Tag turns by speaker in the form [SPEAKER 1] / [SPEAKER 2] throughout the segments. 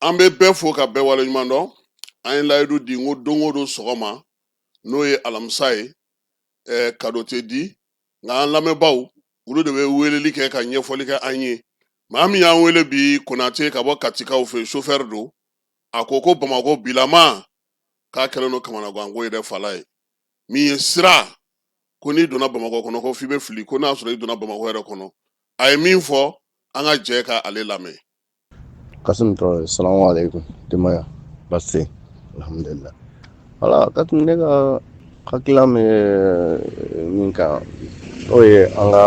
[SPEAKER 1] an bɛ bɛɛ fo ka bɛɛ waleɲuman dɔn an ye layidu di n ko don o don sɔgɔma n'o ye alamisa ye eh, kado tɛ di nka an lamɛnbaaw olu de bɛ weleli kɛ ka ɲɛfɔli kɛ an ye maa min y'an wele bi konate ka bɔ katikaw fɛ sofɛri don a ko ko bamakɔ bilama k'a kɛlen don kamanaganko yɛrɛ fala ye min ye sira ko n'i donna bamakɔ kɔnɔ ko f'i bɛ fili ko n'a sɔrɔ i donna bamakɔ yɛrɛ kɔnɔ a ye min fɔ an ka jɛ ka ale lamɛn
[SPEAKER 2] Kasim Traore, salamu alaikum, denbaya, baasi, alhamdulillah. Wala, Kasim, ne ka hakila bɛ min kan, n'o ye an ka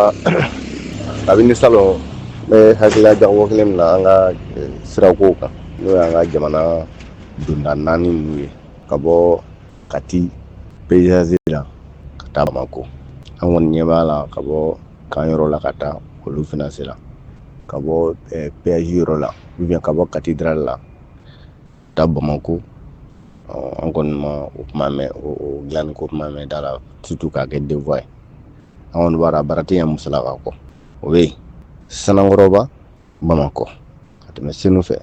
[SPEAKER 2] kabini salon n bɛ hakilila jagabɔ kɛlen min na an ka eh, sirakow kan, n'o y'an ka jamana donda naani ninnu ye, ka bɔ Kati peyizasi la ka taa Bamako. An kɔni ɲɛ b'a la ka bɔ kan yɔrɔ la ka taa olu finasi la. ka bɔ peyazi yɔrɔ la ou bien ka bɔ kati dral la taa bamakɔ an kɔni ma o kuma mɛn o dilanko kuma mɛn da la surtout k'a kɛ deux voies ye an kɔni b'a la baara tɛ ɲɛ musalaka kɔ o bɛ yen sanankɔrɔba bamakɔ ka tɛmɛ senu fɛ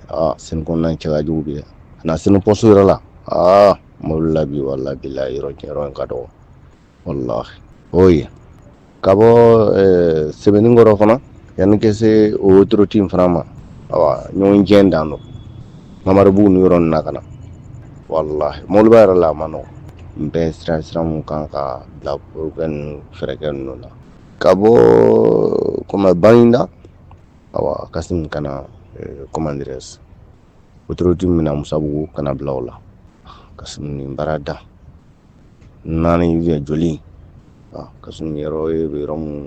[SPEAKER 2] senu kɔnɔna cɛ ka jugu bi ka na senu poste yɔrɔ la aa mɔbili la bi walahi bilahi yɔrɔ in ka dɔgɔ walahi o ye ka bɔ eh, sɛbɛninkɔrɔ fana yanni ka se o autoroute in fana ma awa ɲɔgɔn jɛ dan don mamaribugu ni yɔrɔ na ka na walahi mɔbiliba yɛrɛ la a man nɔgɔn n bɛ siran siran min kan ka bila fɛn ninnu fɛɛrɛkɛ ninnu na ka bɔ kɔmi baginda awa kasim ka na eh, comment dirais-je autoroute min na musabugu ka na bila o la kasim nin baara da naani bɛ joli kasim yɔrɔ ye yɔrɔ minnu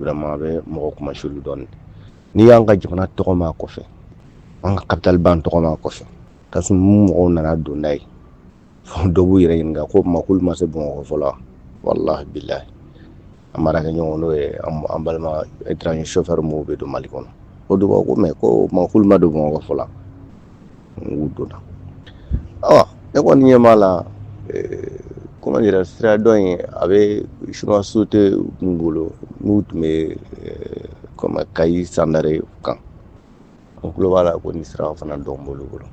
[SPEAKER 2] vraiment bɛ mɔgɔ kunmasuuli dɔɔnin n'i y'an ka jamana tɔgɔ mɛn kɔfɛ an ka kapitali ba in tɔgɔ mɛn kɔfɛ kasim mɔgɔw nana donda ye dɔw b'u yɛrɛ ɲininka ko k'olu ma se bamakɔ fɔlɔ walahi an baarakɛɲɔgɔn n'o ye an balima étranger sofɛri maaw bɛ don mali kɔnɔ o de b'a ko mais ko k'olu ma don bamakɔ fɔlɔ u donna awa ne kɔni ɲɛ b'a la comment dirais sira dɔ in a bɛ sinuwa sosiyete min bolo n'u tun bɛ kɔmi kayi sandare kan n tulo b'a la ko nin sira fana dɔw b'olu bolo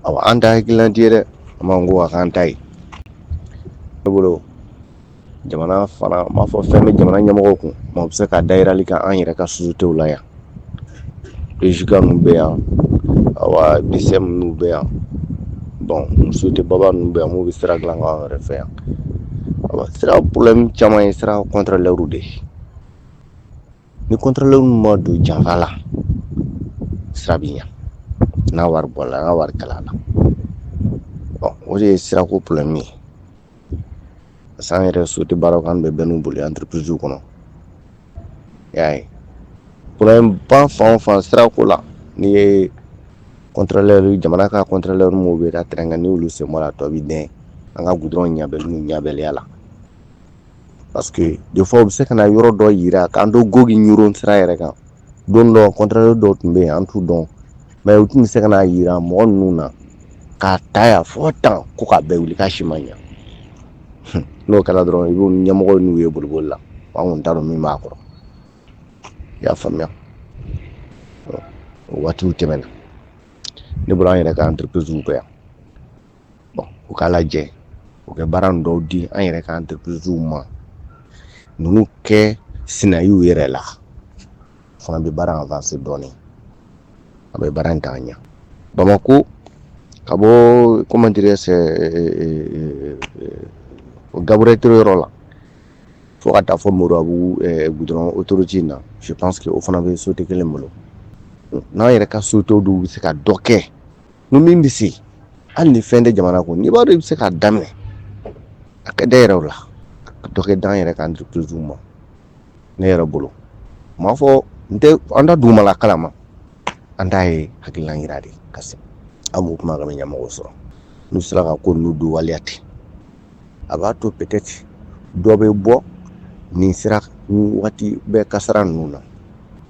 [SPEAKER 2] aw an ta hakililadi yɛrɛ an b'an ko a k'an ta ye ne bolo jamana fana m'a fɔ fɛn bɛ jamana ɲɛmɔgɔw kun u bɛ se ka dayirali kɛ an yɛrɛ ka sosiyetew la yan EGK ninnu bɛ yan aw BECM ninnu bɛ yan bɔn sosiyete baba ninnu bɛ yan minnu bɛ sira dilan an yɛrɛ fɛ yan sira problème caman ye sira kɔntɔrɔlɛriw de ye ni contrôleur ma don janfa la sira bɛ ɲɛ n'a wari bɔ la n ka wari kala la o de ye sirako problème ye parce que an yɛrɛ société baara kan bɛ bɛn n'u bolo entreprise kɔnɔ y'a ye problème ba fan fan sirako la n'i ye contrôleur jamana ka contrôleur minnu bɛ taa terrain kan n' olu sen bɔra tɔ bɛ den an ka goudron ɲabɛn ɲabɛnya la parce que des fois u bɛ se ka na yɔrɔ dɔ yira k'an to Gogi Ɲɔrɔn sira yɛrɛ kan don dɔ contrôleur dɔw tun bɛ yen an t'u dɔn mais u tun bɛ se ka na yira mɔgɔ ninnu na k'a ta yan fɔ tan ko k'a bɛɛ wuli k'a si ma ɲɛ Hun, n'o kɛra dɔrɔn i b'u ni ɲɛmɔgɔ ninnu ye boliboli la an kɔni t'a dɔn min b'a kɔrɔ i y'a faamuya Ɔ, o waatiw tɛmɛna ne bolo an yɛrɛ ka entreprise bɛ yan bon u k'a lajɛ u kɛ baara dɔw di an yɛrɛ ka entreprise ma ninnu kɛ sinayiw yɛrɛ la fana bɛ baara avancer dɔɔnin a bɛ baara in ta ɲɛ bamakɔ ka bɔ comment dirais-je Gabriel Touré yɔrɔ la fo ka taa fɔ moribabugu goudron autoroute in na je pense que o fana bɛ société kelen bolo n'an yɛrɛ ka société dɔw bɛ se ka dɔ kɛ ni min bɛ se hali ni fɛn tɛ jamana kun n'i b'a dɔn i bɛ se k'a daminɛ a ka da yɛrɛ la ka dɔ kɛ d'an yɛrɛ ka entreprise ma ne yɛrɛ bolo n m'a fɔ n tɛ an da dugumala kalama an t'a ye hakililan jira de ka se an b'u kumakan bɛ ɲɛmɔgɔ sɔrɔ n'u sera ka ko ninnu don waleya ten a b'a to pɛtɛti dɔ bɛ bɔ nin sira waati bɛɛ kasara ninnu na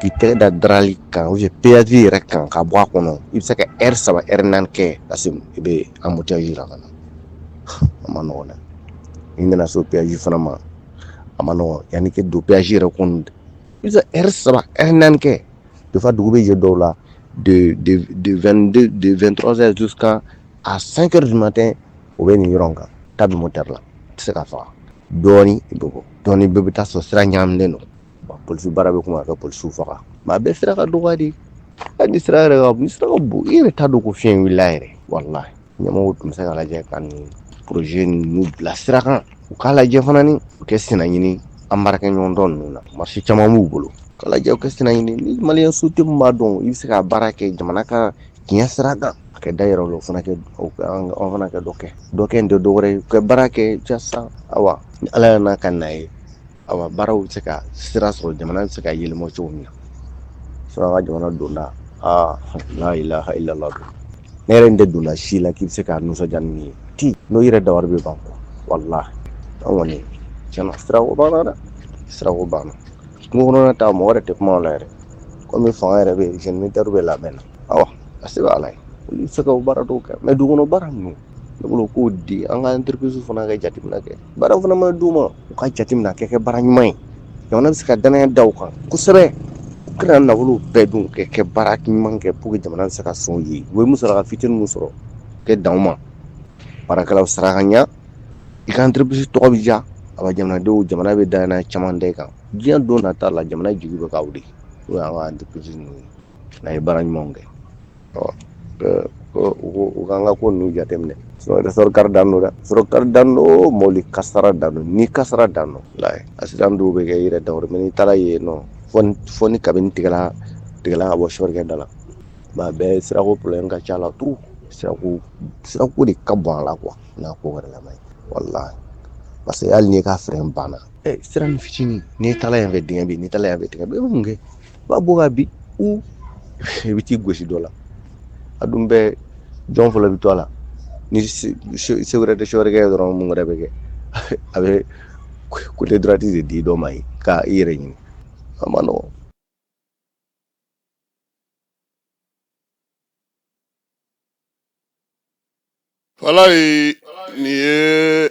[SPEAKER 2] K'i tɛgɛ da darali kan u ye peyati yɛrɛ kan ka bɔ a kɔnɔ i bɛ se ka eri saba ri naani kɛ ka i bɛ an mu jira ka na a ma nɔgɔ dɛ i nana so peyasi fana ma a ma yanani kɛ don peyasi yɛrɛ kun i eri saba ri naani kɛ defa dugu bɛ jɛ dɔw la de2tz kan a san kɛ di matɛ o bɛ nin yɔrɔ kan ta duman tari la tɛ se ka faga dɔɔnin bɛ bɔ dɔɔnin bɛɛ bɛ taa sɔrɔ sira ɲaminɛ don wa polisi baara bɛ kuma ka polisiw faga mais a bɛɛ sira ka dɔgɔ de hali ni sira yɛrɛ ka sira ka bon i yɛrɛ t'a dɔn ko fiɲɛ wulila yɛrɛ walayi ɲɛmɔgɔ tun bɛ se ka lajɛ ka nin poroze ninnu bila sira kan u k'a lajɛ fana ni u kɛ sina ɲini an baarakɛ ɲɔgɔn dɔ ninnu na masin caman b'u bolo ka lajɛ u kɛ sina ɲini ni mali société b'a dɔn i bɛ se ka baara kɛ jamana ka tiɲɛ sira kan a kɛ da yɛrɛ la fana an fana kɛ dɔ kɛ dɔkɛ in tɛ dɔwɛrɛ ye ka baara kɛ jaasa ayiwa ni ala yɛrɛ n'a ka na ye awa baaraw bɛ se ka sira sɔrɔ jamana bɛ se ka yɛlɛma cogo min na an ka jamana donda la ilaha illallah don ne yɛrɛ tɛ donna si la k'i bɛ se ka nisɔndiya ni min ye tɛ n'o yɛrɛ dabali bɛ ban kɔ walahi an kɔni tiɲɛ na sira banna dɛ sira banna kungo kɔnɔna ta mɔgɔ yɛrɛ tɛ kuma o la yɛrɛ kɔmi fanga yɛrɛ bɛ génie militaire bɛ labɛn na awa a se bɛ ala ye olu bɛ se ka baara dɔw kɛ mɛ dugukɔnɔ baara ninnu ne bolo k'o di an ka entreprise u fana ka jateminɛ kɛ baaraw fana mana d'u ma u ka jateminɛ a ka kɛ baara ɲuman ye jamana bɛ se ka danaya da u kan kosɛbɛ u kana nafolo bɛɛ dun kɛ kɛ baara ɲuman kɛ pour que jamana bɛ se ka sɔn u ye u ye musaka fitinin min sɔrɔ ka dan o ma baarakɛlaw sara ka ɲa i ka entreprise tɔgɔ bɛ diya a bɛ jamanadenw jamana bɛ danaya caman da i kan diɲɛ don nata la jamana jigi bɛ ka wuli n'o y'an ka entreprise ninnu ye n'a ye baara ɲumanw kɛ u ka an ka ko ninnu jateminɛ ressort kari dan don dɛ ressort kari dan don mobili kasara dan don ni kasara dan don accident dɔw bɛ kɛ i yɛrɛ dabali mɛ n'i taara yen nɔ fɔ ni kabini tigɛla tigɛla ka bɔ sofɛrikɛ da la a bɛɛ sirako problème ka ca a la trop sira sirako de ka bon a la quoi n'a ko wɛrɛ la walahi parce que hali n'i ka frein banna siranin fitinin n'i taa yan fɛ dingɛ n'i taa yan fɛ dingɛ i bɛ mun kɛ b'a bɔ ka bin i bɛ t'i gosi dɔ la a dun bɛɛ jɔn fɔlɔ bɛ to a la ni se wɛrɛ tɛ sofɛrikɛ ye dɔrɔn mun wɛrɛ bɛ kɛ a bɛ côté droite de di dɔ ma yen ka i yɛrɛ ɲini a ma
[SPEAKER 1] nɔgɔn walahi nin ye